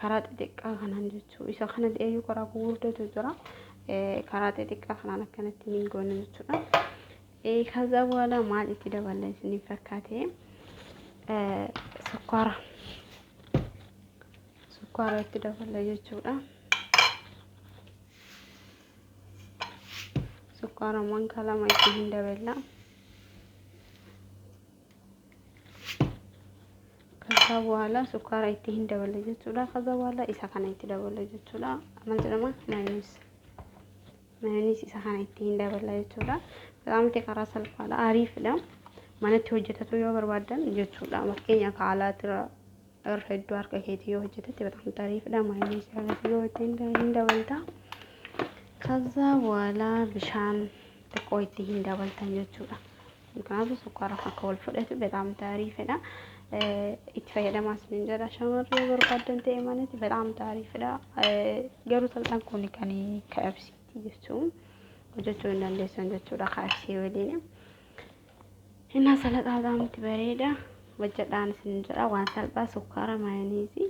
karaa xixiqqaa kanaan jechuu isa kana eeyyuu karaa gurguddatu jira karaa xixiqqaa kanaan akkanatti ni goona jechuudha. Kaza booda maal itti daballa isiniif fakkaate sukkaara sukkaara itti daballa jechuudha. Sukkaara manka lama itti hin daballa. Kaza boohala sukkaara itti hin daballe jechuudha. Kaza boohala isa kana itti daballe jechuudha. Maal jedhama? Maayoniis. Maayoniis isa kana itti hin daballe jechuudha. Qaamti karaa salphaadha. Ariifidha. Manatti hojjetatu yoo barbaadan jechuudha. Fakkeenyaaf haalaatira irra hedduu harka keetii yoo hojjetetti bataam ariifidha. Maayoniis irratti yoo itti hin dabalta. Kaza boohala bishaan xiqqoo itti hin dabaltan jechuudha. Kanaafuu sukkaara akka wal fudhatu betaam taariifidha. Itti fayyadamaa isiniin jedha shamarri yoo barbaaddan ta'e manatti betaam taariifidha. Garuu salphaan kun kan KFCti jechuun hojjechuu hin dandeessan jechuudha KFC waliin. Innaa salaxaa betaamtti bareeda. Hojjedhaan isiniin jedha waan salphaa sukkaara maayoniisii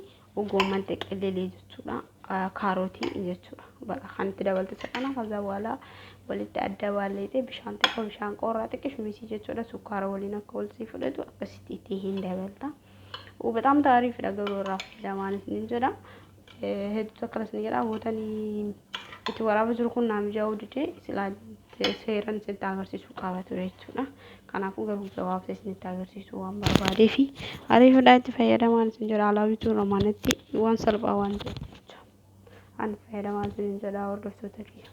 Goomman xeqellelee jechuudha. Kaarootii jechuudha. Baqa kan itti dabaltu isa kana kaza boola walitti adda baalleetee bishaan xiqqoo bishaan qoorraa xiqqi shumisii jechuudha. Sukkaara waliin akka wal sii fudhatu akkasitti itti hin dabalta. Bataam taariifidha garuu irraa fayyadamaan isin jedha. Hedduutu akkanas ni jedha. Gootanii itti waraabaa jiru kun naa mijaa'uu didee silaa seeran isinitti agarsiisuu qaba ture jechuudha. Kanaafuu garuu gabaabsa isinitti agarsiisuu waan barbaadee fi ariifaadhaa itti fayyadamaan isin jedha alaa bituu romaanatti waan salphaa waan ta'eef jecha an fayyadamaa isin jedha hordoftoota kiyya.